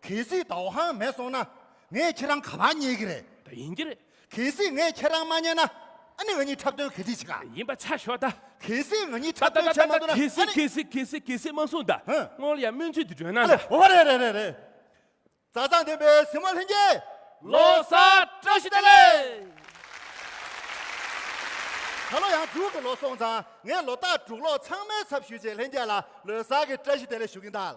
གལ་སྲིད་ད་བྷང་མེད་སོང་ན་ངས་ཁྱེད་རང་ག་ལ་མཉེས་ཀྱི་རེད། ད་ཡིན་གྱི་རེད། གལ་སྲིད་ངས་ཁྱེད་རང་མ་མཉེས་ན་ཨ་ནི་ང་གཉིས་འཁྲབ་སྟོན་ག་དྲིས་བྱེད་ག། ཡིན་པ་ཆ་ཞོག་ད། གལ་སྲིད་ང་གཉིས་འཁྲབ་སྟོན་བྱེད་མ་ཐུབ་ན་ཨ་ནི། གལ་སྲིད་གལ་སྲིད་གལ་སྲིད་གལ་སྲིད་མ་གསུང་ད། སྔོན་ལ་ཡང་སྨོན་ཚིག་འདི་བརྗོད་ན་ད། ཨ་ལེ་རེད་རེད་རེད་རེད། རྩ་བཟང་ལྡན་པའི་སྲིང་མོ་ལྷན་རྒྱས། ལོ་གསར་བཀྲ་ཤིས་བདེ་ལེགས། ད་ལོ་ཡང་དྲུག་གི་ལོ་སོང་ཙང་ངས་ལོ་རྟགས་དྲུག་ལོ་ཚང་མའི་ཚབ་ཞུས་རྗེས་ལྷན་རྒྱས་ལ་ལོའི་གསར་གྱི་བཀྲ་ཤིས་བདེ་ལེགས་ཞུ་གིན་གདའ།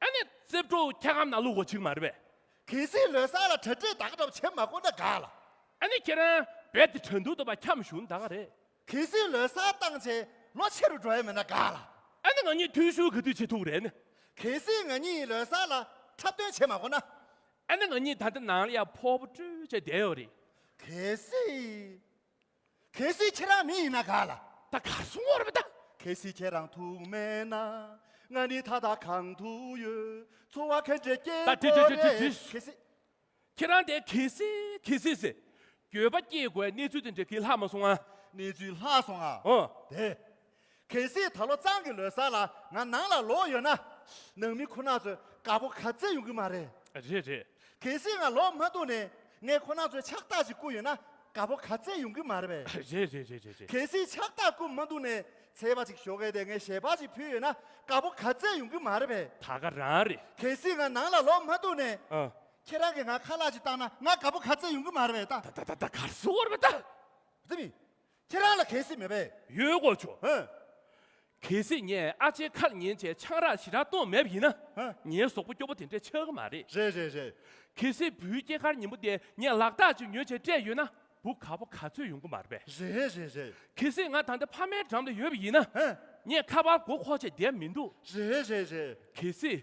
ཨ་ནེ་རྩེ་བྲོ་ཁྱེད་གམ་ན་ལུག་གོ་ཆིག་མ་རེད་པས། གལ་སྲིད་ལོས་སར་ལ་གྲ་སྒྲིག་དག་གྲབས་བྱེད་མ་དགོས་ན་དགའ་ལ། ཨ་ནེ་ཁྱེད་རང་བལ་ཏི་དྲན་འདུག་ཏོ་པ་འཁྱམ་བཞུགས་ད་ག་རེད། གལ་སྲིད་ལོས་སར་བཏང་ཆེ་ལོ་ཆེ་རུ་འགྲོ་ཡ་མེད་ན་དགའ་ལ། ཨ་ནེ་ང་གཉིས་ཐུས་ཤུ་གི་དུས་བྱེད་ཐུག་རེད་ནི། གལ་སྲིད་ང་གཉིས་ལོས་སར་ལ་འཁྲབ་སྟོན་བྱེད་མ་དགོས་ན། ཨ་ནེ་ང་གཉིས་ད་ལྟ་ནང་ལ་ཡ་ཕོ་བོ་ཀྲུའུ་བྱས་བསྡད་ཡོད་རེད། གལ་སྲིད། གལ་སྲིད་ཁྱེད་རང་མི་ཡིན་ན་ག་ལ། ད་ག་སོང་བར་མི་གདའ། གལ་སྲིད་ཁྱེད་རང་ཐུག་མེད་ན། ང་ནི་ད་ལྟ་གང་དུ་ཡོད། འཚོ་བ་ཁེངས་དྲེགས་སྐྱེལ་ད་དེ་དགོས་དེ་རེད། དེ་དེ་གལ་སྲིད། ཁྱེད་རང་དེ་གལ་སྲིད་གལ་སྲིད་ཟེར། འགྱོད་པ་སྐྱེལ་དགོས་གནས་ཚུལ་དེ་འདྲ་གི་ལྷག་མ་སོང་ང། གནས་ཚུལ་ལྷག་སོང་ང། འོ། དེ། གལ་སྲིད་ད་ལོ་གཙང་གི་ལོའི་གཟའ་ལ་ང་ནང་ལ་ལོག་ཡོད་ན། ནང་མི་ཁོ་ན་ཚོས་དགའ་པོ་ག་ཚད་ཡོང་གི་མ་རེད། རེད་རེད། གལ་སྲིད་ང་ལོག་མ་འདུག་ནས་ངས་ཁོ་ན་ཚོས་ཕྱག་རྟགས་ཅིག་བསྐུར་ཡོད་ན་དགའ་པོ་ག་ཚད་ཡོང་གི་མ་རེད་པས། རེད་རེད་རེད་རེད་རེད། གལ་སྲིད་ཕྱག་རྟགས་བསྐུར་མ་འདུག་ནས་ཚལ་པ་ཅིག་ཞོ་གས་དེ་ངས་ཞལ་འབག་ཅིག་ཕུལ་ཡོད་ན་དགའ་པོ་ག་ཚད་ཡོང་གི་མ་རེད་པས། ད་ག་རང་རེད། གལ་སྲིད་ང་ནང་ལ་ལོག་མ་འདུག་ནས། ཨ། ཁྱེད་རང་གིས་ང་ཁ་ལག་ཅིག་བཏགས་ན་ང་དགའ་པོ་ག་ཚད་ཡོང་གི་མ་རེད་པས་ད། ད་ད་ད་ད་ག་རེ་སུ་བོར་བ་ད། རྩིས་མེད། ཁྱེད་རང་ལ་གལ་སྲིད་མེད་པས། ཡོད་དགོས་ཆོག། ཧཱུྃ། གལ་སྲིད་ངས་ཨ་ཅེའི་ཁར་ཉན་བྱའི་ཆང་རག་ཞི་རག་བཏུང་མེད་པ་ཡིན་ན། ཧཱུྃ། ངའི་ཟོག་པོ་སྐྱོ་པོ་དེ་འདྲས་ཆགས་ཀྱི་མ་རེད། རེད་རེད་རེད། གལ་སྲིད་བུའི་སྐྱེས་སྐར་ཉིན་མོ་དེ་ངས་ལག་རྟགས་ཅིག་ཉོས་བྱས་སྤྲད་ཡོད་ན་བུ་ག་པོ་ག་ཚོད་ཡོང་གི་མ་རེད་པས། རེད་རེད་རེད་རེད། གལ་སྲིད་ང་ད་ལྟ་ཕ་མའི་འགྲམ་ལ་ཡོད་པ་ཡིན་ན། ཧཱུྃ། ངས་ཁ་པར་སྒོ་ཁོག་བཅད་བསྡད་མི་འདུག། རེད་རེད་རེད་རེད། གལ་སྲིད།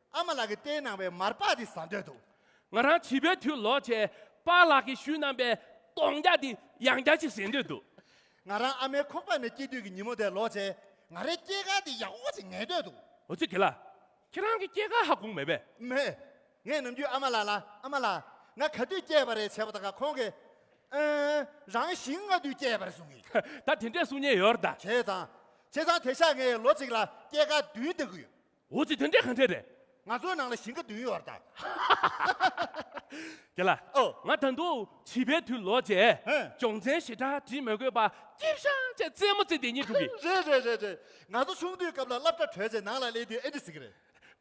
ཨ་མ་ལགས་ཀྱི་བསྟན་གནང་བའི་མར་པགས་འདི་ཟ་འདོད་འདུག། ང་རང་བྱིས་པའི་དུས་ལོ་བྱེད་པ་ལགས་ཀྱིས་ཞུས་གནང་པའི་སྟོང་རྒྱ་འདི་ཡང་བརྒྱ་ཞིག་ཟས་འདོད་འདུག། ང་རང་ཨ་མའི་ཁོག་པ་ནས་སྐྱེས་དུས་ཀྱི་ཉིན་མོ་དེ་ལོ་བྱེད། ང་རའི་སྐྱེས་སྐར་འདི་ཡག་པོ་ཞིག་ངེས་འདོད་འདུག། ཨོ་ཙི་དགེ་ལགས། ཁྱེད་རང་གི་སྐྱེས་སྐར་ཧ་གོ་མེད་པས། མེད། ངས་ནམ་རྒྱུན་ཨ་མ་ལགས་ལ་ཨ་མ་ལགས། ང་ག་དུས་སྐྱེས་པ་རེད་བྱས་པ་དང་ཁོང་གིས། ཨ། རང་ཞིང་ང་དུས་སྐྱེས་པ་རེད་གསུང་གི། ད་དེ་འདྲའི་གསུང་སྙན་ཡོད་རེད་ད། བྱས་ཙང། བྱས་ཙང་དེ་ཤག་ངས་ལོ་གཅིག་ལ་སྐྱེས་སྐར་བདུན་བསྟན་གི་ཡོད། འོ་ཅི་དེ་འདྲས་གང་འདྲས་རེད། ང་ཚོའི་ནང་ལ་ཞིང་ཁ་བདུན་ཡོད་རེད། རྒྱལ་ལགས། ཨོ། ང་ད་དུང་བྱིས་པའི་དུས་ལོག་རྗེས། ཧེ། སྦྱོང་ཚན་ཞེ་དྲག་བྲིས་མི་དགོས་པར་སྐྱིབས་ཤང་བཅས་རྩེད་མོ་རྩེ་དེ་ཉིད་འགྲུབ་གི། རེད་རེད་རེད་རེད། ང་ཚོ་ཆུང་དུས་སྐབས་ལ་སློབ་གྲྭ་གྲོལ་རྗེས་ནང་ལ་སླེབས་དུས་ཨེ་འདྲི་ཟིག་གི་རེད།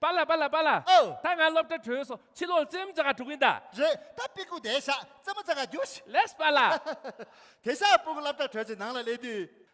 པཱ་ལགས་པཱ་ལགས་པཱ་ལགས། ཨོ། ད་ང་སློབ་གྲྭ་གྲོལ་སོང་ཕྱི་ལོག་རྩེད་མོ་རྩེ་ག་འགྲོ་གིན་གདའ། རེད་ད་པིག་ཀུ་དེད་བཞག་རྩེད་མོ་རྩེ་ག་རྒྱུ། ལེགས་པཱ་ལགས། དེ་ཤ་སྤུག་སླབ་གྲྭ་གྲོལ་རྗེས་ནང་ལ་སླེབས་དུས།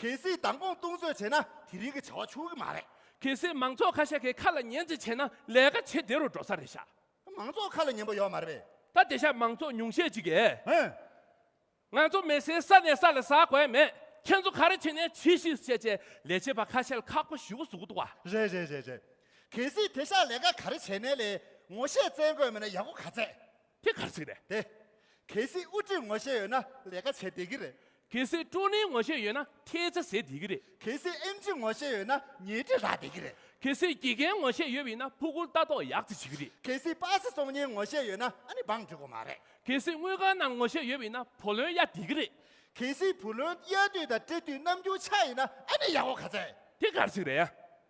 གལ་སྲིད་མདང་དགོང་བཏུང་བཟོས་བྱས་ན་དེ་རིང་གི་བྱ་བ་ཆུག་གི་མ་རེད། གལ་སྲིད་མང་ཚོགས་ཁ་ཤས་ཀྱི་ཁ་ལ་ཉན་རྩིས་བྱས་ན་ལས་ཀ་ཇེ་བདེ་རུ་འགྲོ་ས་རེད་ཤག། མང་ཚོགས་ཁ་ལ་ཉན་པོ་ཡོད་མ་རེད་པས། ད་བདེ་ཤག་མང་ཚོགས་ཉུང་ཤས་ཅིག་གིས། ཧེ། ང་ཚོ་མེ་སའི་ས་ནས་ས་ལ་ཟགས་དགོས་མེད། ཁྱེད་ཚོ་ག་རེ་བྱས་ནས་བྱིས་ཤིག་བྱས་བྱས་ལས་བྱེད་པ་ཁ་ཤས་ལ་ཁག་པོ་ཞུ་གི་ཟུག་གི་འདུག་བ། རེད་རེད་རེད་རེད། གལ་སྲིད་དེ་ཤག་ལས་ཀ་ག་རེ་བྱས་ནས་ལས་ངོ་ཤེས་བཙལ་དགོས་མེད་ན་ཡག་པོ་ག་ཚད། དེ་གར་ཚིག་རེད། དེ། གལ་སྲིད་དབུ་ཁྲིད་ངོ་ཤེས་ཡོད་ན་ལས་ཀ་བྱེད་བདེ་གི་རེད། གལ་སྲིད་ཀྲོ་ནེ་ངོ་ཤེས་ཡོད་ན་ཐེལ་ཚ་ཟེར་བདེ་གི་རེད། གལ་སྲིད་ཨེམ་ཆི་ངོ་ཤེས་ཡོད་ན་ཉལ་ཁྲི་རག་བདེ་གི་རེད། གལ་སྲིད་དགེ་རྒན་ངོ་ཤེས་ཡོད་བས་ན་ཕུག་གུར་ལྟ་རྟོག་ཡག་ཙི་བྱེད་གི་རེད། གལ་སྲིད་པ་སི་སོང་ཉེན་ངོ་ཤེས་ཡོད་ན་ཨ་ནི་འབངས་འགྲིག་གོ་མ་རེད། གལ་སྲིད་དངུལ་ཁང་ནང་ངོ་ཤེས་ཡོད་བས་ན་བུ་ལོན་གཡར་བདེ་གི་རེད། གལ་སྲིད་བུ་ལོན་གཡར་དུས་དང་སྤྲད་དུས་ནམ་རྒྱུན་ཆག་ཡིན་ན་ཨ་ནི་ཡག་གོ་ག་ཚད། དེ་གར་ཚིག་རེད།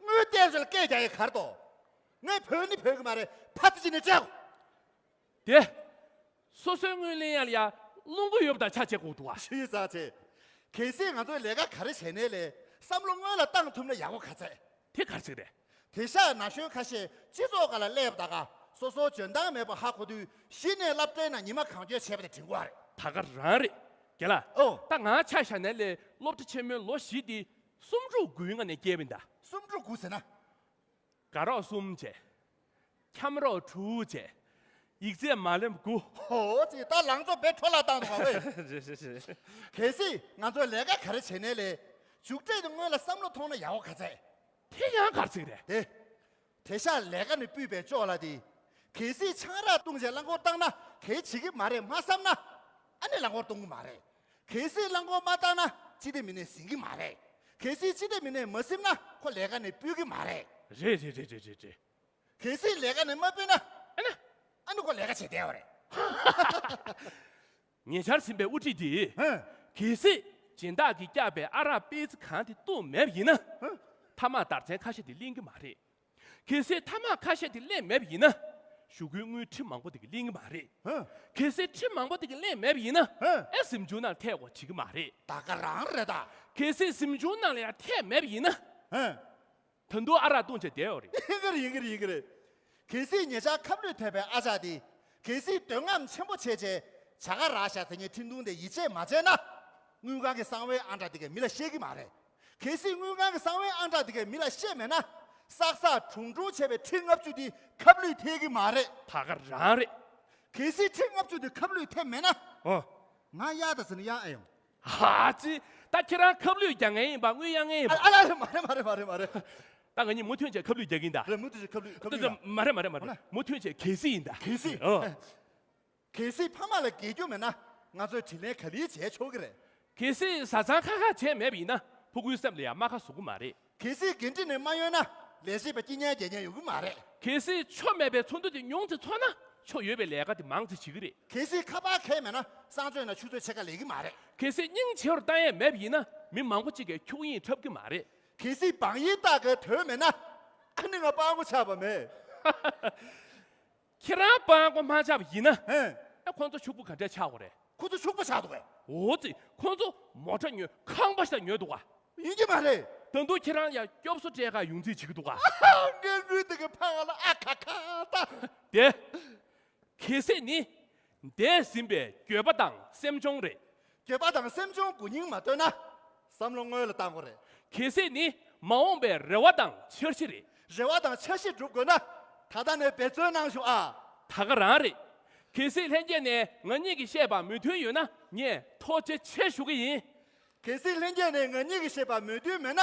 དངུལ་བསྟན་ཟོལ་སྐད་རྒྱ་ཡི་གར་དོ། ངའི་བུ་ནི་བོད་ཀྱི་མ་རེད་ཕ་ཙི་ཅི་ནས་བཅའོ། དེ། སོ་སོའི་དངུལ་ལེན་ཡ་ལ་ཡ། རླུང་གུ་ཡོབ་དང་ཆ་བྱེད་གོག་ཏུ་བ། ཞི་ཟག་ཆེ། གལ་སྲིད་ང་ཚོའི་ལས་ཀ་ག་རེ་བྱས་ནས་ལས་བསམ་བློ་སྔོན་ལ་བཏང་ཐུབ་ན་ཡག་པོ་ག་ཚད། དེ་གར་ཚིག་རེད། དེ་ཤག་ན་གཞོན་ཁ་ཤས་སྤྱི་ཚོགས་ག་ལ་སླེབས་བདག་ག་སོ་སོ་འཇོན་ཐང་མེད་པ་ཧ་གོ་དུས་གཞི་ནས་ལབ་སྤྲེལ་ན་ཉི་མ་གང་འགྱོད་བྱས་པ་དེ་དྲིན་གོ་ཨ་རེད། ད་ག་རང་རེད། དགེ་ལ། ཨོ། ད་ང་ཆ་ཤག་ན་ལས་སློབ་གྲ་ཆེན་མོའི་ལོ་བཞི་དེ་སུམ་ཕྲུགས་དགུའི་ང་ནི་སྐྱེས་པའི་མདའ། སུམ་ཕྲུགས་དགུ་ཟེར་ན། དགའ་རོགས་གསུམ་བཅས། འཁྱམས་རོགས་དྲུག་བཅས། ཡིག་རྩེད་མ་ལེབ་དགུ། ཧོ་ཙི་ད་ལང་ཚོ་བེད་འཕྲོ་ལ་བཏང་འདུག་བ་འོས། གལ་སྲིད་ང་ཚོས་ལས་ཀ་ག་རེ་བྱེད་ནའི་ལས། མཇུག་འབྲས་དེ་སྔོན་ལ་བསམ་བློ་ཐོངས་ན་ཡག་བོ་ག་ཚད། དེ་ཡང་གར་ཚིག་རེད། དེ། དེ་ཤ་ལས་ཀ་ནི་སྤུད་པས་ལྕོགས་ལ་དེ། གལ་སྲིད་ཆང་རག་བཏུང་བྱས་རླངས་འཁོར་བཏང་ན་གལ་ཆེ་གི་མ་རེད་མ་བསམ་ན། ཨ་ནི་རླངས་འཁོར་གཏོང་གི་མ་རེད། གལ་སྲིད་རླངས་འཁོར་མ་བཏང་ན་སྤྱི་བདེ་མི་སྣས་ཟིན་གི་མ་རེད། གལ་སྲིད་སྤྱི་བདེ་མི་སྣས་མ་སིམ་ན་ཁོ་ལས་ཀ་ནི་སྤུད་གི་མ་རེད། རེད་རེད་རེད་རེད་རེད། གལ་སྲིད་ལས་ཀ་ནི་མ་སྤུད་ན། ཨ་ནི། ཨ་ནི་ཁོ་ལས་ཀ་བྱེད་བདེ་བ་རེད། ཉེ་ཆར་ཟིན་པའི་དབུ་ཁྲིད་དེས། གལ་སྲིད་སྦྱིན་བདག་གིས་བསྐྱབས་པའི་ཨ་རག་སྤེ་ཚི་གང་དེ་བཏུང་མེད་པ་ཡིན་ན། ཐ་མག་དར་ཚན་ཁ་ཤས་དེ་གླེང་གི་མ་རེད། གལ་སྲིད་ཐ་མག་ཁ་ཤས་དེ་གླེང་མེད་པ་ཡིན་ན། ཞུ་སྒོའི་དངུལ་ཁྲི་མང་པོ་དེ་གི་གླེང་གི་མ་རེད། གལ་སྲིད་ཁྲི་མང་པོ་དེ་གི་གླེང་མེད་པ་ཡིན་ན། ཨེ་ཟིམ་ཆུང་ནང་ཐད་བོ་བྱེད་ཀྱི་མ་རེད། ད་ག་རང་རེད་ད། གལ་སྲིད་ཟིམ་ཆུང་ནང་ལ་ཡང་ཐད་མེད་པ་ཡིན་ན། དོན་དུ་ཨ་རག་བཏུང་བྱས་བསྡད་ཡོད་རེད། ཡིན་གྱི་རེད་ཡིན་གྱི་རེད་ཡིན་གྱི་རེད། གལ་སྲིད་ངེད་ཅག་ཁབ་ལུད་ཐོས་པའི་ཨ་ཅག་འདིས་གལ་སྲིད་འདོད་རྔམ་ཆེན་པོ་བྱས་རྗེས་བྱ་དགའ་རག་ཤ་དེ་ཉིད་འཕྲིན་ཐུང་དེ་ཡིད་ཆེས་མ་བྱས་ན། དངུལ་ཁང་གི་གསང་བའི་ཨང་གྲངས་འདི་གའི་མི་ལ་བཤད་ཀྱི་མ་རེད། གལ་སྲིད་དངུལ་ཁང་གི་གསང་བའི་ཨང་གྲངས་འདི་གའི་མི་ལ་བཤད་མེད་ན། སག་སག་གྲུང་གྲུང་བྱས་པའི་འཕྲིན་ལྔ་བཅུ་འདི་ཁབ་ལུད་ཐེབས་ཀྱི་མ་རེད། ད་ག་རང་རེད། གལ་སྲིད་འཕྲིན་ལྔ་བཅུ་འདི་ཁབ་ལུད་ཐེབས་མེད་ན། ཨོ། ང་གཡག་ད་ཟེར་ན་གཡག་ཨེ་ཡོང། ཧ་ཅི། ད་ཁྱེད་རང་ཁབ་ལུད་རྒྱག་མཁན་ཡིན་པ་དངུལ་གཡར་མཁན་ཡིན་པ། ཨ་ལ། མ་རེད་མ་རེད་མ་རེད་མ་རེད། ད་ང་གཉིས་མུ་མཐུད་ཆད་ཁབ་ལུད་རྒྱག་གི་ཡིན་ད། རེད་མུ་མཐུད་ཆད་ཁབ་ལུད་ཁབ་ལུད་ཡིན་ད། མ་རེད་མ་རེད་མ་རེད་མུ་མཐུད་ཆད་གལ་སྲིད་ཡིན་ད། གལ་སྲིད། ཨོ། གལ་སྲིད་ཕ་མ་ལ་དགེ་རྒྱུ་མེད་ན་ང་ཚོས་དྲིན་ལན་ག་ལེའི་བྱས་ཆོག་གི་རེད། གལ་སྲིད་བཟའ་ཚང་ཁ་ཁ་བྱས་མེད་པ་ཡིན་ན་ཕུ་གུའི་སེམས་ལ་ཡང་རྨ་ཁ་བཟོ་གི་མ་རེད། གལ་སྲིད་འགན་འཁྲི་ནི་མ་ཡོད་ན་ལས་བྱེད་པའི་སྐྱིད་ཉལ་རྒྱལ་ཉལ་ཡོང་གི་མ་རེད། གལ་སྲིད་ཆོ་མེད་པའི་ཚོགས་འདུ་དེ་ཉུང་དུ་ཚོགས་ན་ཆོ་ཡོད་པའི་ལས་ཀ་དེ་མང་དུ་བྱེད་ཀྱི་རེད། གལ་སྲིད་ཁ་པར་ཁལ་མེད་ན་གསང་སྤྱོད་ནང་ཆུ་ཚོད་ཕྱེད་ཀ་ལས་ཀྱི་མ་རེད། གལ་སྲིད་སྙིང་ཇེ་བར་བཏང་ཡས་མེད་པ་ཡིན་ན་མི་མང་པོ་གཅིག་གིས་འཁྱུག་དབྱིངས་འཁྲབ་ཀྱི་མ་རེད། གལ་སྲིད་བང་ཡིག་བཏགས་ཀྱི་དོད་མེད་ན་ཨ་ནི་ང་སྤང་གོ་ཆགས་པ་མེད། ཧ་ཧ་ཧ། ཁྱེད་རང་སྤང་སྒོ་མ་ཆགས་པ་ཡིན་ན། ཨེ། ཨ་ཁོང་ཚོ་ཕྱུག་པོ་ག་འདྲས་ཆགས་གོ་རེད། ཁོ་ཚོ་ཕྱུག་པོ་ཆགས་འདུག་གས། འོ་ཙི་ཁོང་ཚོ་མོ་ཁྲ་ཉོས་ཁང་པ་ཞིག་ལ་ཉོས་འདུག་ག། ཡིན་གྱི་མ་རེད། ད་དུང་ཁྱེད་རང་ཡང་སྐྱོབ་གསོ་སྤྲད་ཁ་ཡོང་རྩིས་བྱེད་ཀྱི་འདུག་ག། ངའི་འུ་ཐུག་གི་ཕ་ང་ལ་ཨ་ཁ་ཁ་ད། དེ། གལ་སྲིད་ནི། འདས་ཟིན་པའི་འགྱོད་པ་དང་སེམས་གཅོང་རེད། འགྱོད་པ་དང་སེམས་གཅོང་དགུ་སྙིང་མ་བཏོན་ན། བསམ་བློ་སྔོན་ལ་བཏང་དགོས་རེད། གལ་སྲིད་ནི་མ་འོངས་པའི་རེ་བ་དང་འཆར་གཞི་རེད། རེ་བ་དང་འཆར་གཞི་བསྒྲུབ་དགོས་ན། ད་ལྟ་ནས་འབད་བརྩོན་གནང་ཞོག་ཨ། ད་ག་རང་རེད། གལ་སྲིད་ལྷན་རྒྱས་ནས་ང་གཉིས་ཀྱིས་བཤད་པར་མོས་མཐུན་ཡོད་ན་ངས་ཐོག་ཇེ་ཆེ་ཞུ་གི་ཡིན། གལ་སྲིད་ལྷན་རྒྱས་ནས་ང་གཉིས་ཀྱིས་བཤད་པར་མོས་མཐུན་མེད་ན།